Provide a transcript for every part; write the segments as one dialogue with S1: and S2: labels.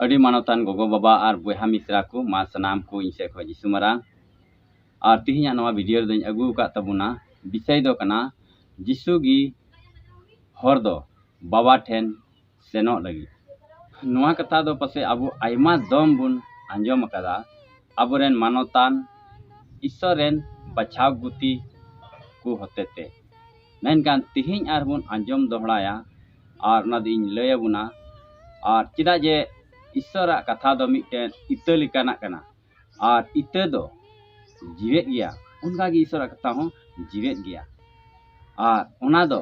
S1: ᱟᱹᱰᱤ ᱢᱟᱱᱚᱛᱟᱱ ᱜᱚᱜᱚ ᱵᱟᱵᱟ ᱟᱨ ᱵᱚᱭᱦᱟ ᱢᱤᱥᱨᱟ ᱠᱚ ᱢᱟ ᱥᱟᱱᱟᱢ ᱠᱚ ᱤᱧ ᱥᱮᱫ ᱠᱷᱚᱱ ᱡᱤᱥᱩ ᱢᱟᱨᱟᱝ ᱟᱨ ᱛᱮᱦᱮᱧᱟᱜ ᱱᱚᱣᱟ ᱵᱷᱤᱰᱤᱭᱳ ᱨᱮᱫᱚᱧ ᱟᱹᱜᱩ ᱟᱠᱟᱫ ᱛᱟᱵᱚᱱᱟ ᱵᱤᱥᱚᱭ ᱫᱚ ᱠᱟᱱᱟ ᱡᱤᱥᱩ ᱜᱮ ᱦᱚᱲ ᱫᱚ ᱵᱟᱵᱟ ᱴᱷᱮᱱ ᱥᱮᱱᱚᱜ ᱞᱟᱹᱜᱤᱫ ᱱᱚᱣᱟ ᱠᱟᱛᱷᱟ ᱫᱚ ᱯᱟᱥᱮᱡ ᱟᱵᱚ ᱟᱭᱢᱟ ᱫᱚᱢ ᱵᱚᱱ ᱟᱸᱡᱚᱢ ᱟᱠᱟᱫᱟ ᱟᱵᱚ ᱨᱮᱱ ᱢᱟᱱᱚᱛᱟᱱ ᱤᱥᱥᱚᱨ ᱨᱮᱱ ᱵᱟᱪᱷᱟᱣ ᱜᱩᱛᱤ ᱠᱚ ᱦᱚᱛᱮ ᱛᱮ ᱢᱮᱱᱠᱷᱟᱱ ᱛᱮᱦᱮᱧ ᱟᱨ ᱵᱚᱱ ᱟᱸᱡᱚᱢ ᱫᱚᱦᱲᱟᱭᱟ ᱟᱨ ᱚᱱᱟ ᱫᱚ ᱤᱧ ᱞᱟᱹᱭ ᱟᱵᱚᱱᱟ ᱟᱨ ᱪᱮᱫᱟᱜ ᱡᱮ ᱤᱥᱥᱚᱨᱟᱜ ᱠᱟᱛᱷᱟ ᱫᱚ ᱢᱤᱫᱴᱮᱱ ᱤᱛᱟᱹ ᱞᱮᱠᱟᱱᱟᱜ ᱠᱟᱱᱟ ᱟᱨ ᱤᱛᱟᱹ ᱫᱚ ᱡᱤᱣᱮᱫ ᱜᱮᱭᱟ ᱚᱱᱠᱟ ᱜᱮ ᱤᱥᱚᱨᱟᱜ ᱠᱟᱛᱷᱟ ᱦᱚᱸ ᱡᱤᱣᱮᱫ ᱜᱮᱭᱟ ᱟᱨ ᱚᱱᱟ ᱫᱚ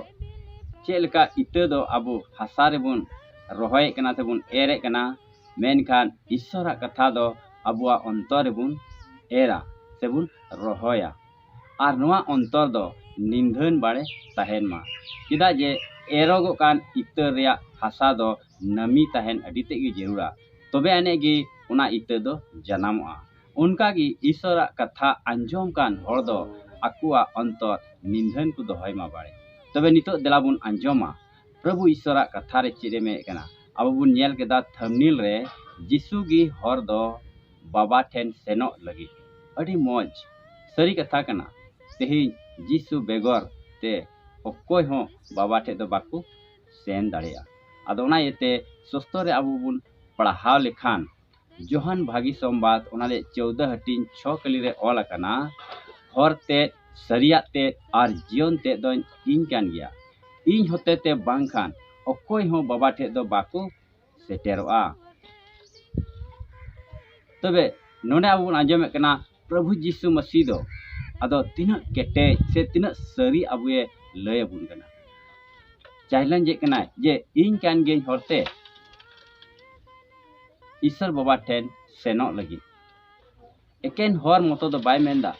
S1: ᱪᱮᱫ ᱞᱮᱠᱟ ᱤᱛᱟᱹ ᱫᱚ ᱟᱵᱚ ᱦᱟᱥᱟ ᱨᱮᱵᱚᱱ ᱨᱚᱦᱚᱭᱮᱫ ᱠᱟᱱᱟ ᱥᱮᱵᱚᱱ ᱮᱨᱮᱫ ᱠᱟᱱᱟ ᱢᱮᱱᱠᱷᱟᱱ ᱤᱥᱚᱨᱟᱜ ᱠᱟᱛᱷᱟ ᱫᱚ ᱟᱵᱚᱣᱟᱜ ᱚᱱᱛᱚᱨ ᱨᱮᱵᱚᱱ ᱮᱨᱟ ᱥᱮᱵᱚᱱ ᱨᱚᱦᱚᱭᱟ ᱟᱨ ᱱᱚᱣᱟ ᱚᱱᱛᱚᱨ ᱫᱚ ᱱᱤᱫᱷᱟᱹᱱ ᱵᱟᱲᱮ ᱛᱟᱦᱮᱱ ᱢᱟ ᱪᱮᱫᱟᱜ ᱡᱮ ᱮᱨᱚᱜᱚᱜ ᱠᱟᱱ ᱤᱛᱟᱹ ᱨᱮᱭᱟᱜ ᱦᱟᱥᱟ ᱫᱚ ᱱᱟᱹᱢᱤ ᱛᱟᱦᱮᱱ ᱟᱹᱰᱤ ᱛᱮᱫ ᱜᱮ ᱡᱟᱹᱨᱩᱲᱟ ᱛᱚᱵᱮ ᱟᱹᱱᱤᱡ ᱜᱮ ᱚᱱᱟ ᱤᱛᱟᱹ ᱫᱚ ᱡᱟᱱᱟᱢᱚᱜᱼᱟ ᱚᱱᱠᱟ ᱜᱮ ᱤᱥᱚᱨᱟᱜ ᱠᱟᱛᱷᱟ ᱟᱸᱡᱚᱢ ᱠᱟᱱ ᱦᱚᱲ ᱫᱚ ᱟᱠᱚᱣᱟᱜ ᱚᱱᱛᱚᱨ ᱱᱤᱫᱷᱟᱹᱱ ᱠᱚ ᱫᱚᱦᱚᱭ ᱢᱟ ᱵᱟᱲᱮ ᱛᱚᱵᱮ ᱱᱤᱛᱚᱜ ᱫᱮᱞᱟ ᱵᱚᱱ ᱟᱸᱡᱚᱢᱟ ᱯᱨᱚᱵᱷᱩ ᱤᱥᱚᱨᱟᱜ ᱠᱟᱛᱷᱟ ᱨᱮ ᱪᱮᱫ ᱮ ᱢᱮᱱᱮᱫ ᱠᱟᱱᱟ ᱟᱵᱚ ᱵᱚᱱ ᱧᱮᱞ ᱠᱮᱫᱟ ᱛᱷᱟᱢᱱᱤᱞ ᱨᱮ ᱡᱤᱥᱩ ᱜᱮ ᱦᱚᱨ ᱫᱚ ᱵᱟᱵᱟ ᱴᱷᱮᱱ ᱥᱮᱱᱚᱜ ᱞᱟᱹᱜᱤᱫ ᱟᱹᱰᱤ ᱢᱚᱡᱽ ᱥᱟᱹᱨᱤ ᱠᱟᱛᱷᱟ ᱠᱟᱱᱟ ᱛᱮᱦᱮᱧ ᱡᱤᱥᱩ ᱵᱮᱜᱚᱨ ᱛᱮ ᱚᱠᱚᱭ ᱦᱚᱸ ᱵᱟᱵᱟ ᱴᱷᱮᱱ ᱫᱚ ᱵᱟᱠᱚ ᱥᱮᱱ ᱫᱟᱲᱮᱭᱟᱜᱼᱟ ᱟᱫᱚ ᱚᱱᱟ ᱤᱭᱟᱹᱛᱮ ᱥᱚᱥᱛᱚ ᱨᱮ ᱟᱵᱚ ᱵᱚᱱ ᱯᱟᱲᱦᱟᱣ ᱞᱮᱠᱷᱟᱱ ᱡᱚᱦᱟᱱ ᱵᱷᱟᱹᱜᱤ ᱥᱚᱢᱵᱟᱫ ᱚᱱᱟ ᱨᱮᱭᱟᱜ ᱪᱳᱣᱫᱟ ᱦᱟᱹᱴᱤᱧ ᱪᱷᱚ ᱠᱟᱹᱞᱤ ᱨᱮ ᱚᱞ ᱟᱠᱟᱱᱟ ᱦᱚᱨ ᱛᱮᱫ ᱥᱟᱹᱨᱤᱭᱟᱜ ᱛᱮᱫ ᱟᱨ ᱡᱤᱭᱚᱱ ᱛᱮᱫ ᱫᱚᱧ ᱤᱧ ᱠᱟᱱ ᱜᱮᱭᱟ ᱤᱧ ᱦᱚᱛᱮᱛᱮ ᱵᱟᱝᱠᱷᱟᱱ ᱚᱠᱚᱭ ᱦᱚᱸ ᱵᱟᱵᱟ ᱴᱷᱮᱱ ᱫᱚ ᱵᱟᱠᱚ ᱥᱮᱴᱮᱨᱚᱜᱼᱟ ᱛᱚᱵᱮ ᱱᱚᱰᱮ ᱟᱵᱚ ᱵᱚᱱ ᱟᱸᱡᱚᱢᱮᱫ ᱠᱟᱱᱟ ᱯᱨᱚᱵᱷᱩ ᱡᱤᱥᱩ ᱢᱟᱹᱥᱤ ᱫᱚ ᱟᱫᱚ ᱛᱤᱱᱟᱹᱜ ᱠᱮᱴᱮᱡ ᱥᱮ ᱛᱤᱱᱟᱹᱜ ᱥᱟᱹᱨᱤ ᱟᱵᱚᱭᱮ ᱞᱟᱹᱭ ᱟᱵᱚᱱ ᱠᱟᱱᱟ ᱪᱮᱞᱮᱧᱡᱮᱫ ᱠᱟᱱᱟᱭ ᱡᱮ ᱤᱧ ᱠᱟᱱ ᱜᱤᱭᱟᱹᱧ ᱦᱚᱨᱛᱮ ᱤᱥᱚᱨ ᱵᱟᱵᱟ ᱴᱷᱮᱱ ᱥᱮᱱᱚᱜ ᱞᱟᱹᱜᱤᱫ ᱮᱠᱮᱱ ᱦᱚᱨ ᱢᱚᱛᱚ ᱫᱚ ᱵᱟᱭ ᱢᱮᱱᱫᱟ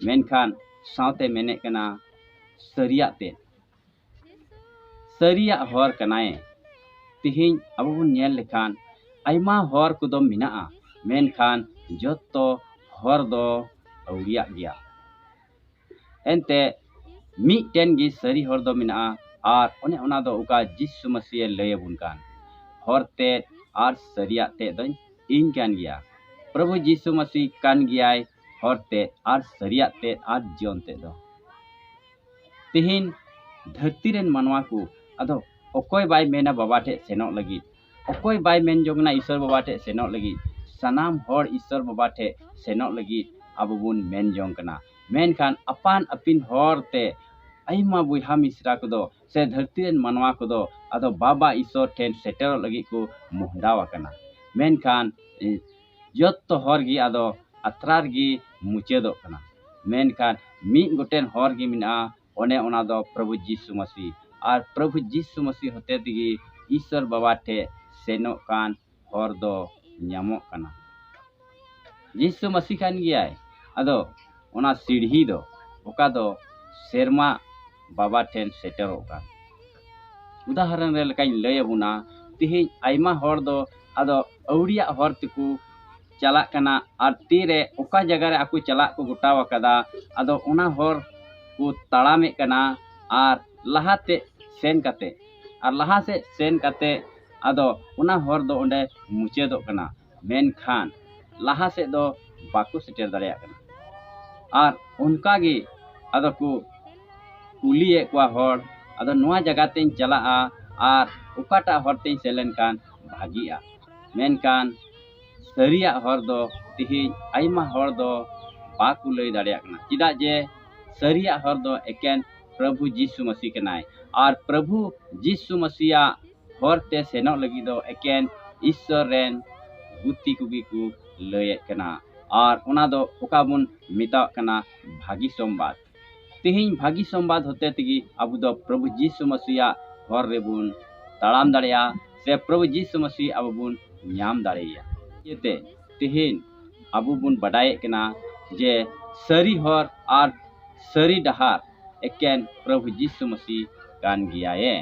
S1: ᱢᱮᱱᱠᱷᱟᱱ ᱥᱟᱶᱛᱮ ᱢᱮᱱᱮᱫ ᱠᱟᱱᱟ ᱥᱟᱹᱨᱤᱭᱟᱜ ᱛᱮ ᱥᱟᱹᱨᱤᱭᱟᱜ ᱦᱚᱨ ᱠᱟᱱᱟᱭ ᱛᱮᱦᱮᱧ ᱟᱵᱚ ᱵᱚᱱ ᱧᱮᱞ ᱞᱮᱠᱷᱟᱱ ᱟᱭᱢᱟ ᱦᱚᱨ ᱠᱚᱫᱚ ᱢᱮᱱᱟᱜᱼᱟ ᱢᱮᱱᱠᱷᱟᱱ ᱡᱚᱛᱚ ᱦᱚᱨ ᱫᱚ ᱟᱹᱣᱨᱤᱭᱟᱜ ᱜᱮᱭᱟ ᱮᱱᱛᱮ ᱢᱤᱫᱴᱮᱱ ᱜᱮ ᱥᱟᱹᱨᱤ ᱦᱚᱨ ᱫᱚ ᱢᱮᱱᱟᱜᱼᱟ ᱟᱨ ᱚᱱᱮ ᱚᱱᱟ ᱫᱚ ᱚᱠᱟ ᱡᱤᱥᱩ ᱢᱟᱹᱥᱤᱭᱮ ᱞᱟᱹᱭ ᱟᱵᱚᱱ ᱠᱟᱱ ᱦᱚᱨ ᱛᱮ ᱟᱨ ᱥᱟᱹᱨᱤᱭᱟᱜ ᱛᱮ ᱫᱚᱧ ᱤᱧ ᱠᱟᱱ ᱜᱮᱭᱟ ᱯᱨᱚᱵᱷᱩ ᱡᱤᱥᱩ ᱢᱟᱹᱥᱤ ᱠᱟᱱ ᱜᱮᱭᱟᱭ ᱦᱚᱨ ᱛᱮ ᱟᱨ ᱥᱟᱹᱨᱤᱭᱟᱜ ᱛᱮ ᱟᱨ ᱡᱤᱭᱚᱱ ᱛᱮ ᱫᱚ ᱛᱮᱦᱮᱧ ᱫᱷᱟᱹᱨᱛᱤ ᱨᱮᱱ ᱢᱟᱱᱣᱟ ᱠᱚ ᱟᱫᱚ ᱚᱠᱚᱭ ᱵᱟᱭ ᱢᱮᱱᱟ ᱵᱟᱵᱟ ᱴᱷᱮᱱ ᱥᱮᱱᱚᱜ ᱞᱟᱹᱜᱤᱫ ᱚᱠᱚᱭ ᱵᱟᱭ ᱢᱮᱱ ᱡᱚᱝ ᱠᱟᱱᱟ ᱤᱥᱥᱚᱨ ᱵᱟᱵᱟ ᱴᱷᱮᱱ ᱥᱮᱱᱚᱜ ᱞᱟᱹᱜᱤᱫ ᱥᱟᱱᱟᱢ ᱦᱚᱲ ᱤᱥᱥᱚᱨ ᱵᱟᱵᱟ ᱴᱷᱮᱱ ᱥᱮᱱᱚᱜ ᱞᱟᱹᱜᱤᱫ ᱟᱵᱚ ᱵᱚᱱ ᱢᱮᱱ ᱡᱚᱝ ᱠᱟᱱᱟ ᱢᱮᱱᱠᱷᱟᱱ ᱟᱯᱟᱱ ᱟᱹᱯᱤᱱ ᱦᱚᱨ ᱛᱮ ᱟᱭᱢᱟ ᱵᱚᱭᱦᱟ ᱢᱤᱥᱨᱟ ᱠᱚᱫᱚ ᱥᱮ ᱫᱷᱟᱹᱨᱛᱤ ᱨᱮᱱ ᱢᱟᱱᱣᱟ ᱠᱚᱫᱚ ᱟᱫᱚ ᱵᱟᱵᱟ ᱤᱥᱥᱚᱨ ᱴᱷᱮᱱ ᱥᱮᱴᱮᱨᱚᱜ ᱞᱟᱹᱜᱤᱫ ᱠᱚ ᱢᱚᱦᱰᱟ ᱟᱠᱟᱱᱟ ᱢᱮᱱᱠᱷᱟᱱ ᱡᱚᱛᱚ ᱦᱚᱨ ᱜᱮ ᱟᱫᱚ ᱟᱛᱨᱟ ᱨᱮᱜᱮ ᱢᱩᱪᱟᱹᱫᱚᱜ ᱠᱟᱱᱟ ᱢᱮᱱᱠᱷᱟᱱ ᱢᱤᱫ ᱜᱚᱴᱮᱱ ᱦᱚᱨ ᱜᱮ ᱢᱮᱱᱟᱜᱼᱟ ᱚᱱᱮ ᱚᱱᱟ ᱫᱚ ᱯᱨᱚᱵᱷᱩ ᱡᱤᱥᱩ ᱢᱟᱹᱥᱤ ᱟᱨ ᱯᱨᱚᱵᱷᱩ ᱡᱤᱥᱩ ᱢᱟᱹᱥᱤ ᱦᱚᱛᱮ ᱛᱮᱜᱮ ᱤᱥᱚᱨ ᱵᱟᱵᱟ ᱴᱷᱮᱡ ᱥᱮᱱᱚᱜ ᱠᱟᱱ ᱦᱚᱨ ᱫᱚ ᱧᱟᱢᱚᱜ ᱠᱟᱱᱟ ᱡᱤᱥᱩ ᱢᱟᱹᱥᱤ ᱠᱟᱱ ᱜᱮᱭᱟᱭ ᱟᱫᱚ ᱚᱱᱟ ᱥᱤᱲᱦᱤ ᱫᱚ ᱚᱠᱟ ᱫᱚ ᱥᱮᱨᱢᱟ ᱵᱟᱵᱟ ᱴᱷᱮᱱ ᱥᱮᱴᱮᱨᱚᱜ ᱠᱟᱱ ᱩᱫᱟᱦᱚᱨᱚᱱ ᱨᱮ ᱞᱮᱠᱟᱧ ᱞᱟᱹᱭ ᱟᱵᱚᱱᱟ ᱛᱮᱦᱮᱧ ᱟᱭᱢᱟ ᱦᱚᱲ ᱫᱚ ᱟᱫᱚ ᱟᱹᱣᱲᱤᱭᱟᱜ ᱦᱚᱨ ᱛᱮᱠᱚ ᱪᱟᱞᱟᱜ ᱠᱟᱱᱟ ᱟᱨ ᱛᱤᱨᱮ ᱚᱠᱟ ᱡᱟᱭᱜᱟ ᱨᱮ ᱟᱠᱚ ᱪᱟᱞᱟᱜ ᱠᱚ ᱜᱚᱴᱟᱣ ᱟᱠᱟᱫᱟ ᱟᱫᱚ ᱚᱱᱟ ᱦᱚᱨ ᱠᱚ ᱛᱟᱲᱟᱢᱮᱫ ᱠᱟᱱᱟ ᱟᱨ ᱞᱟᱦᱟ ᱛᱮ ᱥᱮᱱ ᱠᱟᱛᱮᱫ ᱟᱨ ᱞᱟᱦᱟ ᱥᱮᱫ ᱥᱮᱱ ᱠᱟᱛᱮᱫ ᱟᱫᱚ ᱚᱱᱟ ᱦᱚᱨ ᱫᱚ ᱚᱸᱰᱮ ᱢᱩᱪᱟᱹᱫᱚᱜ ᱠᱟᱱᱟ ᱢᱮᱱᱠᱷᱟᱱ ᱞᱟᱦᱟ ᱥᱮᱫ ᱫᱚ ᱵᱟᱠᱚ ᱥᱮᱴᱮᱨ ᱫᱟᱲᱮᱭᱟᱜ ᱠᱟᱱᱟ ᱟᱨ ᱚᱱᱠᱟ ᱜᱮ ᱟᱫᱚ ᱠᱚ ᱠᱩᱞᱤᱭᱮᱫ ᱠᱚᱣᱟ ᱦᱚᱲ ᱟᱫᱚ ᱱᱚᱣᱟ ᱡᱟᱭᱜᱟ ᱛᱮᱧ ᱪᱟᱞᱟᱜᱼᱟ ᱟᱨ ᱚᱠᱟᱴᱟᱜ ᱦᱚᱨ ᱛᱮᱧ ᱥᱮᱱ ᱞᱮᱱᱠᱷᱟᱱ ᱵᱷᱟᱹᱜᱤᱜᱼᱟ ᱢᱮᱱᱠᱷᱟᱱ ᱥᱟᱹᱨᱤᱭᱟᱜ ᱦᱚᱨ ᱫᱚ ᱛᱮᱦᱮᱧ ᱟᱭᱢᱟ ᱦᱚᱲ ᱫᱚ ᱵᱟᱠᱚ ᱞᱟᱹᱭ ᱫᱟᱲᱮᱭᱟᱜ ᱠᱟᱱᱟ ᱪᱮᱫᱟᱜ ᱡᱮ ᱥᱟᱹᱨᱤᱭᱟᱜ ᱦᱚᱨ ᱫᱚ ᱮᱠᱮᱱ ᱯᱨᱚᱵᱷᱩ ᱡᱤᱥᱩ ᱢᱟᱹᱥᱤ ᱠᱟᱱᱟᱭ ᱟᱨ ᱯᱨᱚᱵᱷᱩ ᱡᱤᱥᱩ ᱢᱟᱹᱥᱤᱭᱟᱜ ᱦᱚᱨᱛᱮ ᱥᱮᱱᱚᱜ ᱞᱟᱹᱜᱤᱫ ᱫᱚ ᱮᱠᱮᱱ ᱤᱥᱥᱚᱨ ᱨᱮᱱ ᱵᱩᱛᱤ ᱠᱚᱜᱮ ᱠᱚ ᱞᱟᱹᱭᱮᱫ ᱠᱟᱱᱟ ᱟᱨ ᱚᱱᱟ ᱫᱚ ᱚᱠᱟ ᱵᱚᱱ ᱢᱮᱛᱟᱣᱟᱜ ᱠᱟᱱᱟ ᱵᱷᱟᱹᱜᱤ ᱥᱚᱢᱵᱟᱫ ᱛᱮᱦᱮᱧ ᱵᱷᱟᱹᱜᱤ ᱥᱚᱢᱵᱟᱫ ᱦᱚᱛᱮ ᱛᱮᱜᱮ ᱟᱵᱚ ᱫᱚ ᱯᱨᱚᱵᱷᱩ ᱡᱤᱥᱩ ᱢᱟᱹᱥᱤᱭᱟᱜ ᱦᱚᱨ ᱨᱮᱵᱚᱱ ᱛᱟᱲᱟᱢ ᱫᱟᱲᱮᱭᱟᱜᱼᱟ ᱥᱮ ᱯᱨᱚᱵᱷᱩ ᱡᱤᱥᱩ ᱢᱟᱹᱥᱤ ᱟᱵᱚ ᱵᱚᱱ ᱧᱟᱢ ᱫᱟᱲᱮᱭᱟᱭᱟ ᱤᱭᱟᱹᱛᱮ ᱛᱮᱦᱮᱧ ᱟᱵᱚ ᱵᱚᱱ ᱵᱟᱰᱟᱭᱮᱫ ᱠᱟᱱᱟ ᱡᱮ ᱥᱟᱹᱨᱤ ᱦᱚᱨ ᱟᱨ ᱥᱟᱹᱨᱤ ᱰᱟᱦᱟᱨ ᱮᱠᱮᱱ ᱯᱨᱚᱵᱷᱩ ᱡᱤᱥᱩ ᱢᱟᱹᱥᱤ ᱠᱟᱱ ᱜᱮᱭᱟᱭᱮ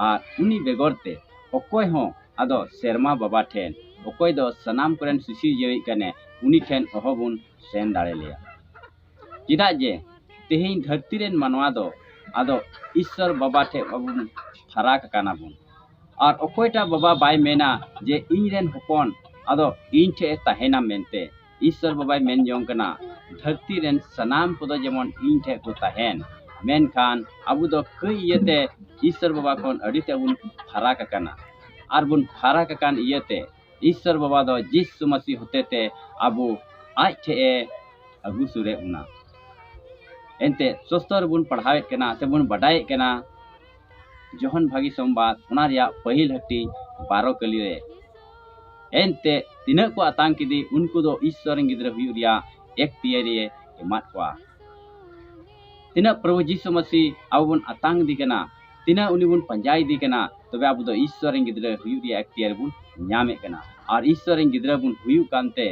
S1: ᱟᱨ ᱩᱱᱤ ᱵᱮᱜᱚᱨ ᱛᱮ ᱚᱠᱚᱭ ᱦᱚᱸ ᱟᱫᱚ ᱥᱮᱨᱢᱟ ᱵᱟᱵᱟ ᱴᱷᱮᱱ ᱚᱠᱚᱭ ᱫᱚ ᱥᱟᱱᱟᱢ ᱠᱚᱨᱮᱱ ᱥᱤᱥᱤᱨᱡᱟᱹᱣᱤᱡ ᱠᱟᱱᱮ ᱩᱱᱤ ᱴᱷᱮᱱ ᱚᱦᱚ ᱵᱚᱱ ᱥᱮᱱ ᱫᱟᱲᱮ ᱞᱮᱭᱟ ᱪᱮᱫᱟᱜ ᱡᱮ ᱛᱮᱦᱮᱧ ᱫᱷᱟᱹᱨᱛᱤ ᱨᱮᱱ ᱢᱟᱱᱣᱟ ᱫᱚ ᱟᱫᱚ ᱤᱥᱥᱚᱨ ᱵᱟᱵᱟ ᱴᱷᱮᱱ ᱵᱟᱵᱚᱱ ᱯᱷᱟᱨᱟᱠ ᱟᱠᱟᱱᱟ ᱵᱚᱱ ᱟᱨ ᱚᱠᱚᱭᱴᱟᱜ ᱵᱟᱵᱟ ᱵᱟᱭ ᱢᱮᱱᱟ ᱡᱮ ᱤᱧ ᱨᱮᱱ ᱦᱚᱯᱚᱱ ᱟᱫᱚ ᱤᱧ ᱴᱷᱮᱱ ᱛᱟᱦᱮᱱᱟ ᱢᱮᱱᱛᱮ ᱤᱥᱥᱚᱨ ᱵᱟᱵᱟᱭ ᱢᱮᱱ ᱡᱚᱝ ᱠᱟᱱᱟ ᱫᱷᱟᱹᱨᱛᱤ ᱨᱮᱱ ᱥᱟᱱᱟᱢ ᱠᱚᱫᱚ ᱡᱮᱢᱚᱱ ᱤᱧ ᱴᱷᱮᱱ ᱠᱚ ᱛᱟᱦᱮᱱ ᱢᱮᱱᱠᱷᱟᱱ ᱟᱵᱚ ᱫᱚ ᱠᱟᱹᱡ ᱤᱭᱟᱹᱛᱮ ᱤᱥᱥᱚᱨ ᱵᱟᱵᱟ ᱠᱷᱚᱱ ᱟᱹᱰᱤ ᱛᱮᱫ ᱵᱚᱱ ᱯᱷᱟᱨᱟᱠ ᱟᱠᱟᱱᱟ ᱟᱨ ᱵᱚᱱ ᱯᱷᱟᱨᱟᱠ ᱟᱠᱟᱱ ᱤᱭᱟᱹᱛᱮ ᱤᱥᱥᱚᱨ ᱵᱟᱵᱟ ᱫᱚ ᱡᱤᱥᱩ ᱢᱟᱹᱥᱤ ᱦᱚᱛᱮᱛᱮ ᱟᱵᱚ ᱟᱡ ᱴᱷᱮᱱ ᱮ ᱟᱹᱜᱩ ᱥᱩᱨᱮᱫ ᱵᱚᱱᱟ ᱮᱱᱛᱮᱫ ᱥᱚᱥᱛᱚ ᱨᱮᱵᱚᱱ ᱯᱟᱲᱦᱟᱣᱮᱫ ᱠᱟᱱᱟ ᱥᱮᱵᱚᱱ ᱵᱟᱰᱟᱭᱮᱫ ᱠᱟᱱᱟ ᱡᱚᱦᱚᱱ ᱵᱷᱟᱹᱜᱤ ᱥᱚᱢᱵᱟᱫ ᱚᱱᱟ ᱨᱮᱭᱟᱜ ᱯᱟᱹᱦᱤᱞ ᱦᱟᱹᱴᱤᱧ ᱵᱟᱨᱚ ᱠᱟᱹᱞᱤ ᱨᱮ ᱮᱱᱛᱮ ᱛᱤᱱᱟᱹᱜ ᱠᱚ ᱟᱛᱟᱝ ᱠᱮᱫᱮ ᱩᱱᱠᱩ ᱫᱚ ᱤᱥᱥᱚᱨ ᱨᱮᱱ ᱜᱤᱫᱽᱨᱟᱹ ᱦᱩᱭᱩᱜ ᱨᱮᱭᱟᱜ ᱮᱠ ᱛᱤᱭᱟᱹᱨᱤᱭᱮ ᱮᱢᱟᱫ ᱠᱚᱣᱟ ᱛᱤᱱᱟᱹᱜ ᱯᱨᱚᱵᱷᱩ ᱡᱤᱥᱩ ᱢᱟᱹᱥᱤ ᱟᱵᱚ ᱵᱚᱱ ᱟᱛᱟᱝ ᱤᱫᱤ ᱠᱟᱱᱟ ᱛᱤᱱᱟᱹᱜ ᱩᱱᱤ ᱵᱚᱱ ᱯᱟᱸᱡᱟ ᱤᱫᱤ ᱠᱟᱱᱟ ᱛᱚᱵᱮ ᱟᱵᱚ ᱫᱚ ᱤᱥᱥᱚᱨ ᱨᱮᱱ ᱜᱤᱫᱽᱨᱟᱹ ᱦᱩᱭᱩᱜ ᱨᱮᱭᱟᱜ ᱮᱠ ᱛᱤᱭᱟᱹᱨᱤ ᱵᱚᱱ ᱧᱟᱢᱮᱫ ᱠᱟᱱᱟ ᱟᱨ ᱤᱥᱥᱚᱨ ᱨᱮᱱ ᱜᱤᱫᱽᱨᱟᱹ ᱵᱚᱱ ᱦᱩᱭᱩᱜ ᱠᱟᱱᱛᱮ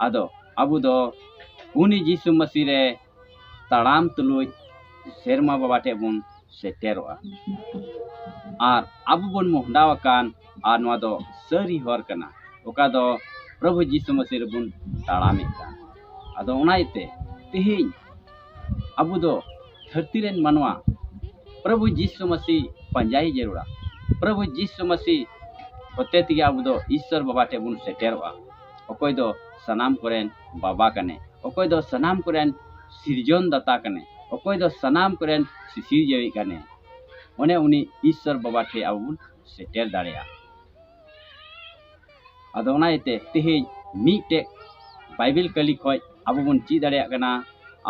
S1: ᱟᱫᱚ ᱟᱵᱚ ᱫᱚ ᱩᱱᱤ ᱡᱤᱥᱩ ᱢᱟᱹᱥᱤ ᱨᱮ ᱛᱟᱲᱟᱢ ᱛᱩᱞᱩᱡ ᱥᱮᱨᱢᱟ ᱵᱟᱵᱟ ᱴᱷᱮᱱ ᱵᱚᱱ ᱥᱮᱴᱮᱨᱚᱜᱼᱟ ᱟᱨ ᱟᱵᱚ ᱵᱚᱱ ᱢᱚᱦᱰᱟ ᱟᱠᱟᱱ ᱟᱨ ᱱᱚᱣᱟ ᱫᱚ ᱥᱟᱹᱨᱤ ᱦᱚᱨ ᱠᱟᱱᱟ ᱚᱠᱟ ᱫᱚ ᱯᱨᱚᱵᱷᱩ ᱡᱤᱥᱩ ᱢᱟᱹᱥᱤ ᱨᱮᱵᱚᱱ ᱛᱟᱲᱟᱢᱮᱫ ᱠᱟᱱ ᱟᱫᱚ ᱚᱱᱟ ᱤᱭᱟᱹᱛᱮ ᱛᱮᱦᱮᱧ ᱟᱵᱚ ᱫᱚ ᱫᱷᱟᱹᱨᱛᱤ ᱨᱮᱱ ᱢᱟᱱᱣᱟ ᱯᱨᱚᱵᱷᱩ ᱡᱤᱥᱩ ᱢᱟᱹᱥᱤ ᱯᱟᱸᱡᱟᱭ ᱡᱟᱹᱨᱩᱲᱟ ᱯᱨᱚᱵᱷᱩ ᱡᱤᱥᱩ ᱢᱟᱹᱥᱤ ᱦᱚᱛᱮ ᱛᱮᱜᱮ ᱟᱵᱚ ᱫᱚ ᱤᱥᱥᱚᱨ ᱵᱟᱵᱟ ᱴᱷᱮᱱ ᱵᱚᱱ ᱥᱮᱴᱮᱨᱚᱜᱼᱟ ᱚᱠᱚᱭ ᱫᱚ ᱥᱟᱱᱟᱢ ᱠᱚᱨᱮᱱ ᱵᱟᱵᱟ ᱠᱟᱱᱟᱭ ᱚᱠᱚᱭ ᱫᱚ ᱥᱟᱱᱟᱢ ᱠᱚᱨᱮᱱ ᱥᱤᱨᱡᱚᱱ ᱫᱟᱛᱟ ᱠᱟᱱᱮ ᱚᱠᱚᱭ ᱫᱚ ᱥᱟᱱᱟᱢ ᱠᱚᱨᱮᱱ ᱥᱤᱥᱤᱨᱡᱟᱹᱣᱤᱡ ᱠᱟᱱᱮ ᱚᱱᱮ ᱩᱱᱤ ᱤᱥᱥᱚᱨ ᱵᱟᱵᱟ ᱴᱷᱮᱡ ᱟᱵᱚ ᱵᱚᱱ ᱥᱮᱴᱮᱨ ᱫᱟᱲᱮᱭᱟᱜᱼᱟ ᱟᱫᱚ ᱚᱱᱟ ᱤᱭᱟᱹᱛᱮ ᱛᱮᱦᱮᱧ ᱢᱤᱫᱴᱮᱡ ᱵᱟᱭᱵᱮᱞ ᱠᱟᱹᱞᱤ ᱠᱷᱚᱡ ᱟᱵᱚ ᱵᱚᱱ ᱪᱮᱫ ᱫᱟᱲᱮᱭᱟᱜ ᱠᱟᱱᱟ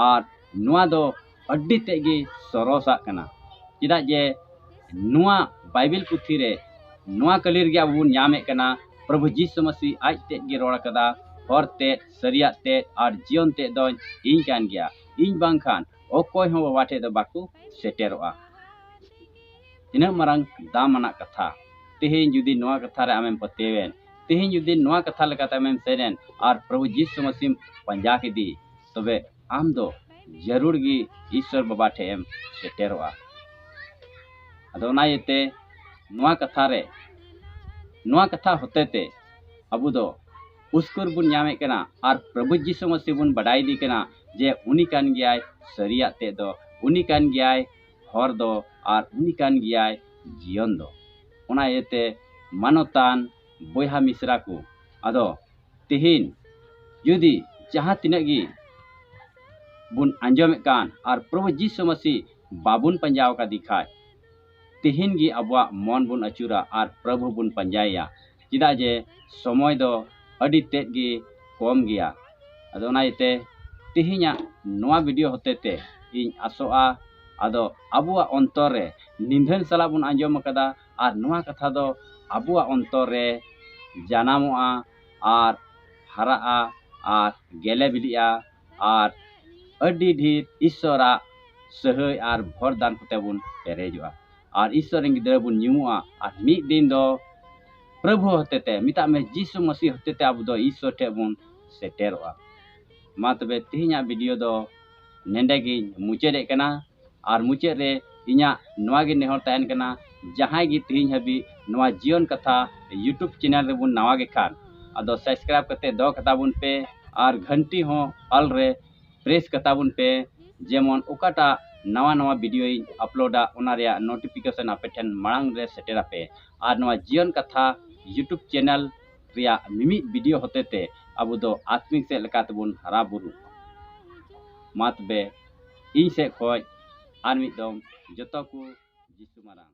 S1: ᱟᱨ ᱱᱚᱣᱟ ᱫᱚ ᱟᱹᱰᱤ ᱛᱮᱫ ᱜᱮ ᱥᱚᱨᱚᱥᱟᱜ ᱠᱟᱱᱟ ᱪᱮᱫᱟᱜ ᱡᱮ ᱱᱚᱣᱟ ᱵᱟᱭᱵᱮᱞ ᱯᱩᱛᱷᱤ ᱨᱮ ᱱᱚᱣᱟ ᱠᱟᱹᱞᱤ ᱨᱮᱜᱮ ᱟᱵᱚ ᱵᱚᱱ ᱧᱟᱢᱮᱫ ᱠᱟᱱᱟ ᱯᱨᱚᱵᱷᱩ ᱡᱤᱥᱩ ᱢᱟᱹᱥᱤ ᱟᱡ ᱛᱮᱫ ᱜᱮ ᱨᱚᱲ ᱠᱟᱫᱟ ᱦᱚᱨ ᱛᱮᱫ ᱥᱟᱹᱨᱤᱭᱟᱜ ᱛᱮᱫ ᱟᱨ ᱡᱤᱭᱚᱱ ᱛᱮᱫ ᱫᱚᱧ ᱤᱧ ᱠᱟᱱ ᱜᱮᱭᱟ ᱤᱧ ᱵᱟᱝᱠᱷᱟᱱ ᱚᱠᱚᱭ ᱦᱚᱸ ᱵᱟᱵᱟ ᱴᱷᱮᱡ ᱫᱚ ᱵᱟᱠᱚ ᱥᱮᱴᱮᱨᱚᱜᱼᱟ ᱛᱤᱱᱟᱹᱜ ᱢᱟᱨᱟᱝ ᱫᱟᱢᱟᱱᱟᱜ ᱠᱟᱛᱷᱟ ᱛᱮᱦᱮᱧ ᱡᱩᱫᱤ ᱱᱚᱣᱟ ᱠᱟᱛᱷᱟ ᱨᱮ ᱟᱢᱮᱢ ᱯᱟᱹᱛᱭᱟᱹᱣᱮᱱ ᱛᱮᱦᱮᱧ ᱡᱩᱫᱤ ᱱᱚᱣᱟ ᱠᱟᱛᱷᱟ ᱞᱮᱠᱟᱛᱮ ᱟᱢᱮᱢ ᱥᱮᱱᱮᱱ ᱟᱨ ᱯᱨᱚᱵᱷᱩ ᱡᱤᱥᱩ ᱢᱟᱹᱥᱤᱢ ᱯᱟᱸᱡᱟ ᱠᱮᱫᱮ ᱛᱚᱵᱮ ᱟᱢ ᱫᱚ ᱡᱟᱹᱨᱩᱲ ᱜᱮ ᱤᱥᱥᱚᱨ ᱵᱟᱵᱟ ᱴᱷᱮᱡ ᱮᱢ ᱥᱮᱴᱮᱨᱚᱜᱼᱟ ᱟᱫᱚ ᱚᱱᱟ ᱤᱭᱟᱹᱛᱮ ᱱᱚᱣᱟ ᱠᱟᱛᱷᱟ ᱨᱮ ᱱᱚᱣᱟ ᱠᱟᱛᱷᱟ ᱦᱚᱛᱮ ᱛᱮ ᱟᱵᱚ ᱫᱚ ᱩᱥᱠᱩᱨ ᱵᱚᱱ ᱧᱟᱢᱮᱫ ᱠᱟᱱᱟ ᱟᱨ ᱯᱨᱚᱵᱷᱩ ᱡᱤᱥᱩ ᱢᱟᱹᱥᱤ ᱵᱚᱱ ᱵᱟᱰᱟᱭ ᱤᱫᱤ ᱠᱟᱱᱟ ᱡᱮ ᱩᱱᱤ ᱠᱟᱱ ᱜᱮᱭᱟᱭ ᱥᱟᱹᱨᱤᱭᱟᱜ ᱛᱮᱫ ᱫᱚ ᱩᱱᱤ ᱠᱟᱱ ᱜᱮᱭᱟᱭ ᱦᱚᱨ ᱫᱚ ᱟᱨ ᱩᱱᱤ ᱠᱟᱱ ᱜᱮᱭᱟᱭ ᱡᱤᱭᱚᱱ ᱫᱚ ᱚᱱᱟ ᱤᱭᱟᱹᱛᱮ ᱢᱟᱱᱚᱛᱟᱱ ᱵᱚᱭᱦᱟ ᱢᱤᱥᱨᱟ ᱠᱚ ᱟᱫᱚ ᱛᱤᱦᱤᱧ ᱡᱩᱫᱤ ᱡᱟᱦᱟᱸ ᱛᱤᱱᱟᱹᱜ ᱜᱮ ᱵᱚᱱ ᱟᱸᱡᱚᱢᱮᱫ ᱠᱟᱱ ᱟᱨ ᱯᱨᱚᱵᱷᱩ ᱡᱤᱥᱩ ᱢᱟᱹᱥᱤ ᱵᱟᱵᱚᱱ ᱯᱟᱸᱡᱟ ᱟᱠᱟᱫᱮ ᱠᱷᱟᱡ ᱛᱤᱦᱤᱧ ᱜᱮ ᱟᱵᱚᱣᱟᱜ ᱢᱚᱱ ᱵᱚᱱ ᱟᱹᱪᱩᱨᱟ ᱟᱨ ᱯᱨᱚᱵᱷᱩ ᱵᱚᱱ ᱯᱟᱸᱡᱟᱭᱮᱭᱟ ᱪᱮᱫᱟᱜ ᱡᱮ ᱥᱚᱢᱚᱭ ᱫᱚ ᱟᱹᱰᱤ ᱛᱮᱫ ᱜᱮ ᱠᱚᱢ ᱜᱮᱭᱟ ᱟᱫᱚ ᱚᱱᱟ ᱤᱭᱟᱹᱛᱮ ᱛᱤᱦᱤᱧᱟᱜ ᱱᱚᱣᱟ ᱵᱷᱤᱰᱤᱭᱳ ᱦᱚᱛᱮ ᱛᱮ ᱤᱧ ᱟᱥᱚᱜᱼᱟ ᱟᱫᱚ ᱟᱵᱚᱣᱟᱜ ᱚᱱᱛᱚᱨ ᱨᱮ ᱱᱤᱫᱷᱟᱹᱱ ᱥᱟᱞᱟᱜ ᱵᱚᱱ ᱟᱸᱡᱚᱢ ᱟᱠᱟᱫᱟ ᱟᱨ ᱱᱚᱣᱟ ᱠᱟᱛᱷᱟ ᱫᱚ ᱟᱵᱚᱣᱟᱜ ᱚᱱᱛᱚᱨ ᱨᱮ ᱡᱟᱱᱟᱢᱚᱜᱼᱟ ᱟᱨ ᱦᱟᱨᱟᱜᱼᱟ ᱟᱨ ᱜᱮᱞᱮ ᱵᱤᱞᱤᱜᱼᱟ ᱟᱨ ᱟᱹᱰᱤ ᱰᱷᱮᱨ ᱤᱥᱥᱚᱨᱟᱜ ᱥᱟᱹᱦᱟᱹᱭ ᱟᱨ ᱵᱷᱚᱨ ᱫᱟᱱ ᱠᱚᱛᱮ ᱵᱚᱱ ᱯᱮᱨᱮᱡᱚᱜᱼᱟ ᱟᱨ ᱤᱥᱥᱚᱨ ᱨᱮᱱ ᱜᱤᱫᱽᱨᱟᱹ ᱵᱚᱱ ᱧᱩᱢᱩᱜᱼᱟ ᱟᱨ ᱢᱤᱫ ᱫᱤᱱ ᱫᱚ ᱯᱨᱚᱵᱷᱩ ᱦᱚᱛᱮᱛᱮ ᱢᱮᱛᱟᱜ ᱢᱮ ᱡᱤᱥᱩ ᱢᱟᱹᱥᱤ ᱦᱚᱛᱮᱛᱮ ᱟᱵᱚ ᱫᱚ ᱤᱥᱥᱚᱨ ᱴᱷᱮᱱ ᱵᱚᱱ ᱥᱮᱴᱮᱨᱚᱜᱼᱟ ᱢᱟ ᱛᱚᱵᱮ ᱛᱮᱦᱮᱧᱟᱜ ᱵᱷᱤᱰᱤᱭᱳ ᱫᱚ ᱱᱮᱰᱮ ᱜᱤᱧ ᱢᱩᱪᱟᱹᱫᱮᱫ ᱠᱟᱱᱟ ᱟᱨ ᱢᱩᱪᱟᱹᱫ ᱨᱮ ᱤᱧᱟᱹᱜ ᱱᱚᱣᱟ ᱜᱮ ᱱᱮᱦᱚᱨ ᱛᱟᱦᱮᱱ ᱠᱟᱱᱟ ᱡᱟᱦᱟᱸᱭ ᱜᱮ ᱛᱮᱦᱮᱧ ᱦᱟᱹᱵᱤᱡ ᱱᱚᱣᱟ ᱡᱤᱭᱚᱱ ᱠᱟᱛᱷᱟ ᱤᱭᱩᱴᱩᱵᱽ ᱪᱮᱱᱮᱞ ᱨᱮᱵᱚᱱ ᱱᱟᱣᱟ ᱜᱮ ᱠᱷᱟᱱ ᱟᱫᱚ ᱥᱟᱵᱥᱠᱨᱟᱭᱤᱵᱽ ᱠᱟᱛᱮᱫ ᱫᱚᱦᱚ ᱠᱟᱛᱟ ᱵᱚᱱ ᱯᱮ ᱟᱨ ᱜᱷᱟᱱᱴᱤ ᱦᱚᱸ ᱚᱞ ᱨᱮ ᱯᱨᱮᱥ ᱠᱟᱛᱟ ᱵᱚᱱ ᱯᱮ ᱡᱮᱢᱚᱱ ᱚᱠᱟᱴᱟᱜ ᱱᱟᱣᱟ ᱱᱟᱣᱟ ᱵᱷᱤᱰᱤᱭᱳᱧ ᱟᱯᱞᱳᱰᱟ ᱚᱱᱟ ᱨᱮᱭᱟᱜ ᱱᱳᱴᱤᱯᱷᱤᱠᱮᱥᱚᱱ ᱟᱯᱮ ᱴᱷᱮᱱ ᱢᱟᱲᱟᱝ ᱨᱮ ᱥᱮᱴᱮᱨ ᱟᱯᱮ ᱟᱨ ᱱᱚᱣᱟ ᱡᱤᱭᱚᱱ ᱠᱟᱛᱷᱟ ᱤᱭᱩᱴᱩᱵᱽ ᱪᱮᱱᱮᱞ ᱨᱮᱭᱟᱜ ᱢᱤᱢᱤᱫ ᱵᱷᱤᱰᱤᱭᱳ ᱦᱚᱛᱮ ᱛᱮ ᱟᱵᱚ ᱫᱚ ᱟᱛᱢᱤᱠ ᱥᱮᱫ ᱞᱮᱠᱟ ᱛᱮᱵᱚᱱ ᱦᱟᱨᱟ ᱵᱩᱨᱩᱜ ᱢᱟ ᱛᱚᱵᱮ ᱤᱧ ᱥᱮᱫ ᱠᱷᱚᱱ ᱟᱨ ᱢᱤᱫ ᱫᱚᱢ ᱡᱚᱛᱚ ᱠᱚ ᱡᱤᱥᱩ ᱢᱟᱨᱟᱝ